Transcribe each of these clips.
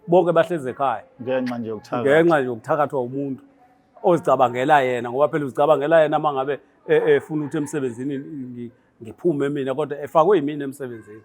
bonke bahlezi ekhaya ngenxa nje yokuthakatha ngenxa nje yokuthakathwa umuntu ozicabangela yena ngoba phela uzicabangela yena uma ngabe e, efuna ukuthi emsebenzini ngiphume mina kodwa efakwe yimina emsebenzini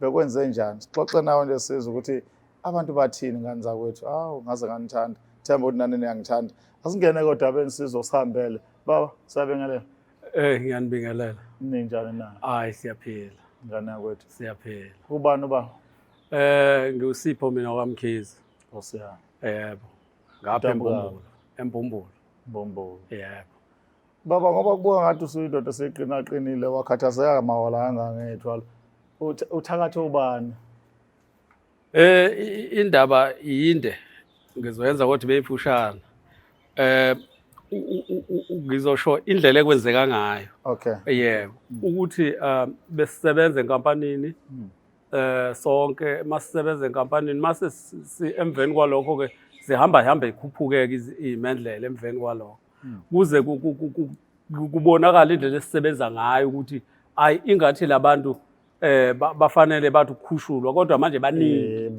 bekwenze njani sixoxe nawe nje sizwe ukuthi abantu bathini ngani zakwethu awu ngaze nganithanda themba ukuthi nani niyangithanda asingene kodwa benisizo sihambele baba siyabingelela Eh ngiyanibingelela. Ninjani na? Hayi siyaphila. Ngane yakwethu. Siyaphila. Ubani uba? Eh ngiwusipho mina kwaMkhize. Osiyana. Yebo. Ngapha eMbumbulu. eMbumbulu. Mbumbulu. Yebo. Baba ngoba kubuka ngathi usuyindoda seqinaqinile wakhathazeka mawala kangangethwala. Uthakathe ubani? Eh indaba yinde ngizoyenza kodwa beyifushana. Eh ngizosho indlela ekwenzeka ngayo. Okay. Yebo. Ukuthi um, besisebenza enkampanini hmm. eh sonke masisebenza enkampanini mase emveni kwalokho ke zihamba hamba ikhuphuke ke imendlela emveni kwalokho. hmm. kuze kubonakala indlela esisebenza ngayo ukuthi ayi ingathi labantu eh bafanele bathi ukukhushulwa kodwa manje baningi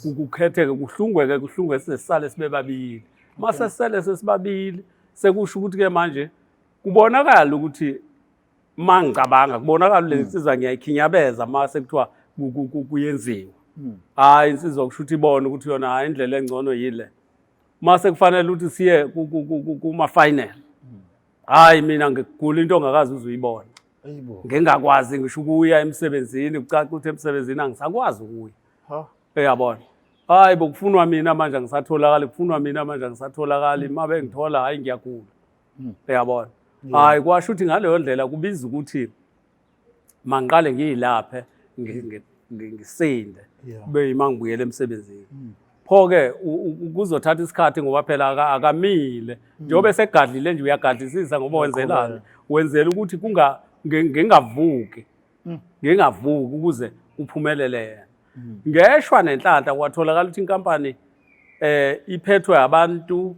ukukhetheke kuhlungweke kuhlungwe sesale sibe babili mase sele sesibabili sekusho ukuthi ke manje kubonakala ukuthi mangicabanga kubonakala le hmm. nsizwa ngiyayikhinyabeza mase kuthiwa kuyenziwa hmm. hayi insizwa kusho ukuthi ibona ukuthi yona hayi indlela engcono yile mase kufanele ukuthi siye kuma final hayi mina ngigula into ongakazi uzuyibona ngingakwazi ngisho ukuya emsebenzini kucaca ukuthi emsebenzini angisakwazi ukuya uyabona hayi bokufunwa mina manje angisatholakali kufunwa mina manje angisatholakali uma bengithola hayi ngiyagula hmm. uyabona hayi kwasho ukuthi ngaleyo ndlela kubiza ukuthi mangiqale ngiyilaphe ngisinde kube yima ngibuyele emsebenzini hmm. pho-ke kuzothatha isikhathi ngoba phela akamile hmm. njengoba esegadlile nje uyagadlisisa ngoba wenzelani wenzela ukuthi ngingavuki hmm. ngingavuki ukuze kuphumelele yena ngeshwa nenhlanhla kwatholakala ukuthi inkampani um iphethwe abantu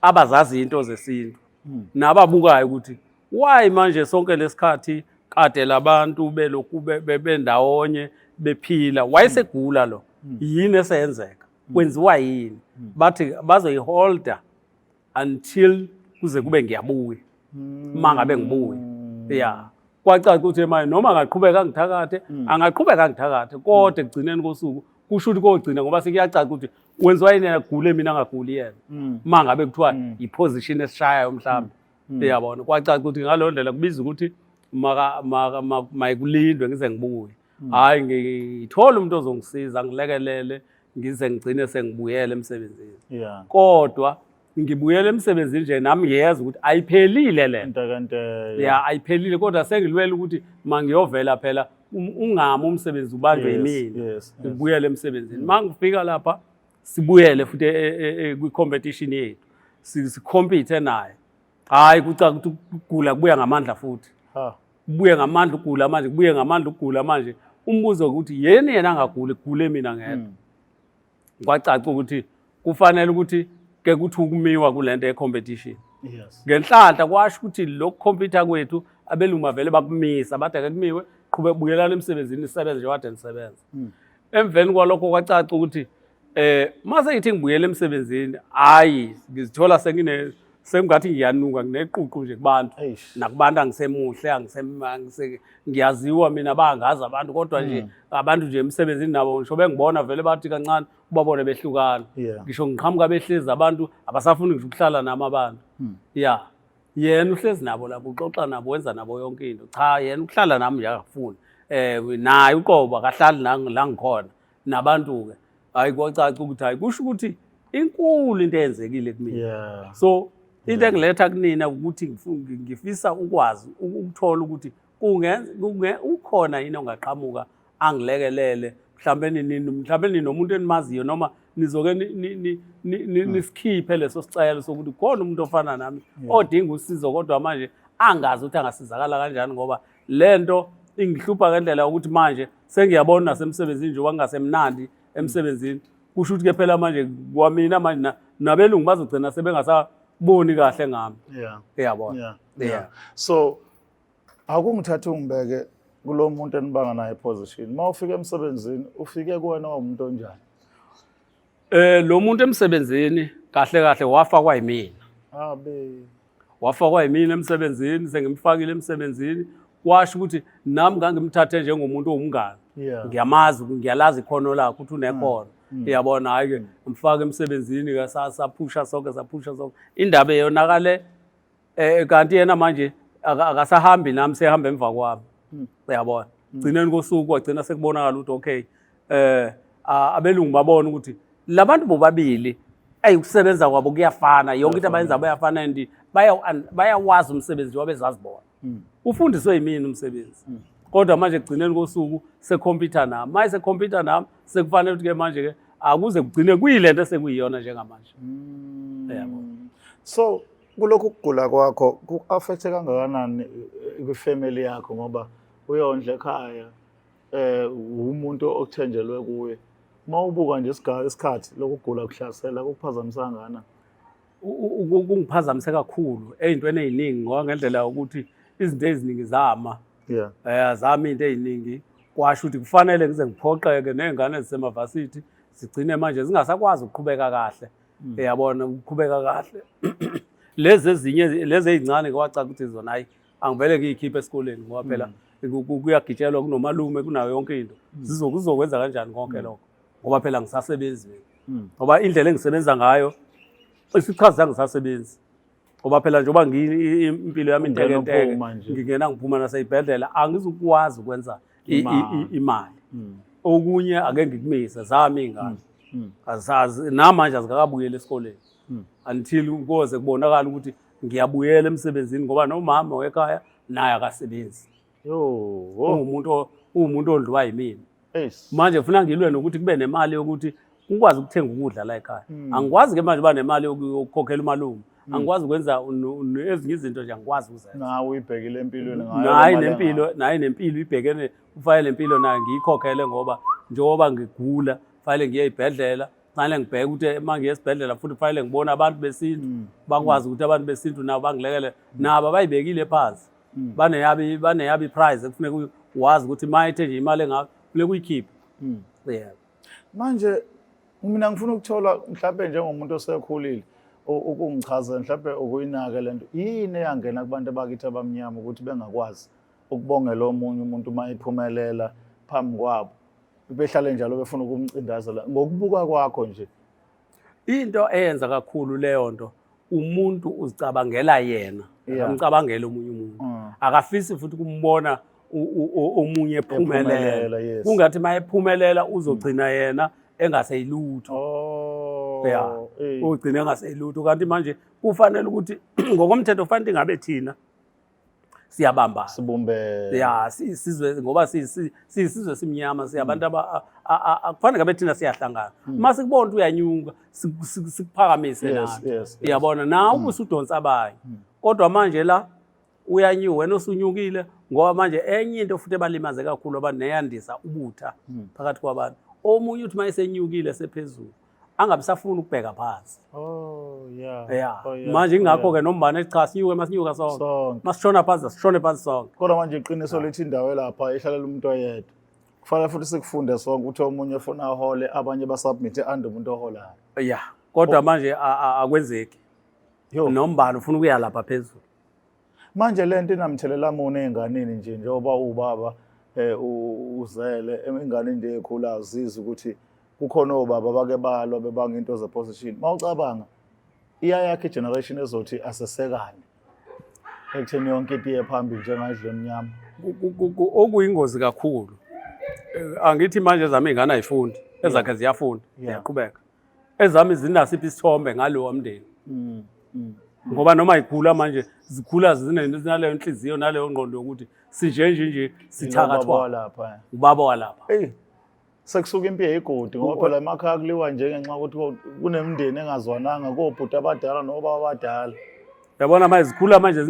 abazazi into zesintu hmm. nababukayo ukuthi why manje sonke lesikhathi kade labantu belokhu bendawonye bephila wayesegula lo hmm. yini esenzeka hmm. kwenziwa yini bathi bazoyiholder until kuze kube ngiyabuya uma ngabe ngibuya ya kwacaca ukuthi manje noma angaqhubeka angithakathe angaqhubeka angithakathe kodwa ekugcineni kosuku kusho ukuthi kogcina ngoba sekuyacaca ukuthi wenziwa yini yena gule mina ngaguli yena mm. uma ngabe kuthiwa mm. yiposition esishayayo mhlawumbe mm. uyabona kwacaca ukuthi ngaleyo ndlela kubiza ukuthi mayikulindwe ngize ngibuye hhayi ngithole umuntu ozongisiza ngilekelele ngize ngigcine sengibuyele emsebenzini kodwa ngibuyele emsebenzini nje nami ngiyeza ukuthi ayiphelile le nto ya ayiphelile kodwa sengilwela ukuthi mangiyovela phela um, ungami umsebenzi ubanjwe yimina ngibuyele emsebenzini uma ngifika lapha sibuyele futhi e, e, e, kwi-competition yethu sikhompithe naye hhayi kucaka ukuthi ukugula kubuya ngamandla futhi kubuye ngamandla ukugula manje kubuye ngamandla ukugula manje umbuzo ukuthi yeni yena angaguli kugule mina ngedwa hmm. kwacaca ukuthi kufanele ukuthi ke kuthi ukumiwa kulento yecompetition yes ngenhlanhla kwasho ukuthi lokhu computer kwethu abeluma vele bakumisa bathi ake kumiwe qhube bukelana emsebenzini isebenze nje wade nisebenza hmm. emveni kwalokho kwacaca ukuthi eh mase ngithi ngibuyela emsebenzini hayi ngizithola sengine sengathi ngiyanuka ngineququ nje kubantu nakubantu angisemuhle ngiyaziwa mina bangazi abantu kodwa nje hmm. abantu nje emsebenzini nabo ngisho bengibona vele bathi kancane ubabone behlukana ngisho ngiqhamuka behlezi abantu abasafuni ngisho ukuhlala nami abantu hmm. ya yena uhlezi nabo lapho uxoxa nabo wenza nabo yonke into cha yena ukuhlala nami nje akafuni um naye uqobo akahlali la ngikhona nabantu-ke hhayi kwacaca ukuthi hhayi kusho ukuthi inkulu into eyenzekile kumina yeah. so into engiletha kunina ukuthi ngifisa ukwazi ukuthola ukuthi ukhona yini ongaqhamuka angilekelele mhlawumbe nini mhlawumbe ninomuntu enimaziyo noma nizoke hmm. nisikhiphe leso sicelo sokuthi khona umuntu ofana nami odinga usizo kodwa manje angazi ukuthi angasizakala kanjani ngoba lento ingihlupha ngendlela ukuthi manje sengiyabona nasemsebenzini njengoba ngingasemnandi emsebenzini kusho ukuthi ke phela manje kwamina manje na- nabelungu bazogcina sebengasaboni kahle ngami yeah uyabona yeah Yeah. yeah so akungithatha ungibeke kulo muntu enibanga naye position uma ufika emsebenzini ufike kuwena umuntu onjani Eh lo muntu emsebenzini kahle kahle wafakwa yimina. Abe. Wafakwa yimina emsebenzini sengimfakile emsebenzini kwasho ukuthi nami ngangimthathe njengomuntu owumngane. Yeah. Ngiyamazi ngiyalazi ikhono lakhe ukuthi unekhono. Mm. Uyabona hayi ke ngimfaka emsebenzini ke saphusha sonke saphusha sonke. Indaba eyonakale eh kanti yena manje aka- akasahambi nami sehamba emva kwami Mm. uyabona gcineni kosuku kwagcina sekubonakala ukuthi okay eh a- abelungu babona ukuthi labantu bobabili ayi ukusebenza kwabo kuyafana yonke into abayenza bayafana and baya- and bayawazi umsebenzi wabezazi bona Mm. ufundiswe yimini umsebenzi Mm. kodwa manje kugcineni kosuku sekhompyutha nami maye sekhompyutha nami sekufanele ukuthi ke manje ke akuze kugcine kuyilento esekuyiyona njengamanje Mm. Uyabo. so Kulokhu kugula kwakho ku-affecthe kangakanani eh, kwifamily yakho ngoba uyondla ekhaya eh umuntu okuthenjelwe kuye uma ubuka nje isikhathi lokugula kuhlasela kukuphazamisa ngana kungiphazamise kakhulu ey'ntweni ey'ningi ngoba ngendlela yokuthi izinto eziningi zama um azama into ey'ningi kwasho ukuthi kufanele ngize ngiphoqeke ney'ngane zisemavasithi zigcine manje zingasakwazi ukuqhubeka kahle mm. yabona kuqhubeka kahle lezi ezinye lezi ezincane kwacaca ukuthi zona hayi angivele ngiyikhiphe esikoleni ngoba phela mm. kuyagitshelwa kunomalume kunayo yonke into mm. zizokwenza kanjani konke mm. lokho ngoba phela ngisasebenzi mina ngoba indlela engisebenza ngayo isichazi sangisasebenzi ngoba phela njengoba impilo yami intekenteke ngingena ngiphuma naseyibhedlela angizukwazi ukwenza imali hmm. okunye ake ngikumise zami ingane hmm. Hmm. azazi namanje azikakabuyeli esikoleni until koze kubonakala ukuthi ngiyabuyela emsebenzini ngoba nomama wekhaya naye akasebenzi uwumuntu uwumuntu odliwa yimina manje funa ngilwe nokuthi kube nemali yokuthi ukwazi ukuthenga ukudla la ekhaya hmm. angikwazi ke manje uba nemali yokukhokhela umalume hmm. angikwazi ukwenza ezinye izinto nje angikwazi ukuzenza nawe uyibhekile empilweni ngayo nempilo naye nempilo ibhekene ufanele impilo naye ngiyikhokhele ngoba njengoba ngigula fanele ngiye ibhedlela fanele ngibheke ukuthi uma ngiye esibhedlela futhi fanele ngibone abantu besintu hmm. bakwazi ukuthi abantu besintu nabo bangilekele nabo abayibekile phansi mm. baneyabi baneyabi prize ekufuneka wazi ukuthi uma ethe nje imali engaka kufuneka uyikhiphe mm. yeah manje mina ngifuna ukuthola mhlawumbe njengomuntu osekhulile ukungichaza mhlawumbe ukuyinake lento yini eyangena kubantu abakithi abamnyama ukuthi bengakwazi ukubongela omunye umuntu uma iphumelela phambi kwabo behlale njalo befuna ukumcindazela ngokubuka kwakho nje into eyenza kakhulu leyo nto umuntu uzicabangela yena Yeah. akamcabangeli omunye umuntu Mm. akafisi futhi kumbona u- u- u- omunye ephumelela Ephumelela, yes. kungathi uma ephumelela uzogcina yena engaseyilutho Oh. Yeah. eh. ugcina engaseyilutho kanti manje kufanele ukuthi ngokomthetho fanele ingabe thina siyabamba sibumbe ya sizwe ngoba sisizwe simnyama siyabantu hmm. aba akufanele ngabe thina siyahlangana hmm. uma sikubona ukuthi uyanyuka sikuphakamise nathi uyabona nawe hmm. ubusudonsa abanye kodwa manje la uyanyiwe wena osunyukile ngoba manje enye into futhi ebalimaze kakhulu abantu neyandisa ubutha phakathi kwabantu omunye uthi uma esenyukile sephezulu angabe safuna ukubheka phansi oh yeah yeah oh, yeah. manje ingakho oh, ke nombane cha sinyuke masinyuka sonke masishona phansi sishone phansi sonke kodwa manje iqiniso ah. lithi indawo lapha ihlalela umuntu oyedwa kufanele futhi sikufunde sonke ukuthi omunye ufuna ahole abanye basubmite ande umuntu oholayo yeah kodwa oh. manje akwenzeki nombani ufuna ukuya lapha phezulu Manje le nto inamthelela muni ey'nganeni nje njengoba uwubaba um uzele ingane into ekhula azizi ukuthi kukhona obaba bake balwa bebanga into zeposition uma ucabanga iyayakhe igeneration ezothi asesekane ekutheni yonke into iye phambili njengadle emnyama okuyingozi kakhulu eh, angithi manje zami ingane ayifundi ezakhe ziyafunda ziyaqhubeka ezami zinasiphi isithombe ngalowa mndeni mm, mm. ngoba noma ikhula manje zikhula zinaleyo nhliziyo naleyo ngqondo yokuthi sinje nje nje sithakathwa lapha ubaba walapha hey sekusuka impi yegodi ngoba phela emakhaya kuliwa nje ngenxa ukuthi kunemndeni engazwananga kobhuti abadala nobaba abadala yabona manje zikhula manje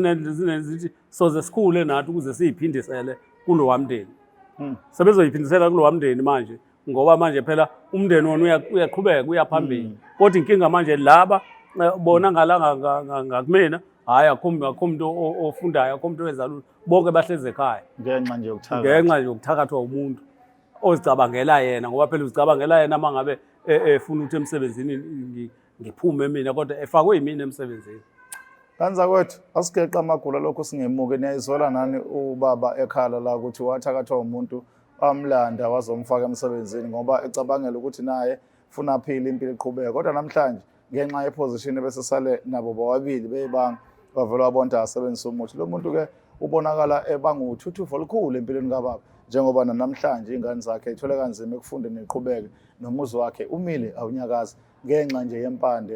zithi soze sikhule nathi ukuze siyiphindisele kulowa mndeni hmm. sebezoyiphindisela kulowa mndeni manje ngoba manje phela umndeni wona uyaqhubeka uya phambili mm. kodwa inkinga manje laba eh, bona ngalanga ngakumina hhayi akho muntu ofundayo akho muntu owenza lutho bonke bahlezi ekhaya ngenxa nje ngenxa nje yokuthakathwa umuntu ozicabangela yena ngoba phela uzicabangela yena uma ngabe e, efuna ukuthi emsebenzini ngiphume mina kodwa efakwe yimina emsebenzini kanza kwethu asigeqa amagula lokho singemuke niyayizola nani ubaba ekhala la ukuthi wathakathwa umuntu bamlanda wazomfaka emsebenzini ngoba ecabangela ukuthi naye funa aphile impilo iqhubeke kodwa namhlanje ngenxa yeposition ebesesale nabo bobabili beyibanga wavele wabonta asebenzisa umuthi lo muntu ke ubonakala ebanguthuthuva olukhulu empilweni kababa njengoba nanamhlanje ingane zakhe ithole kanzima ekufundeni iqhubeke nomuzi wakhe umile awunyakazi ngenxa nje yempande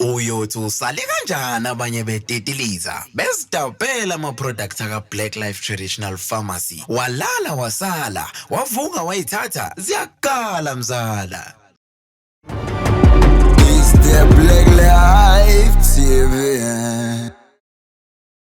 Uyothi usale kanjani abanye betetiliza bezidabhela ama-product aka-Black Life Traditional Pharmacy. Walala wasala, wavuka wayithatha, ziyakhala mzala. It's the Black Life TV.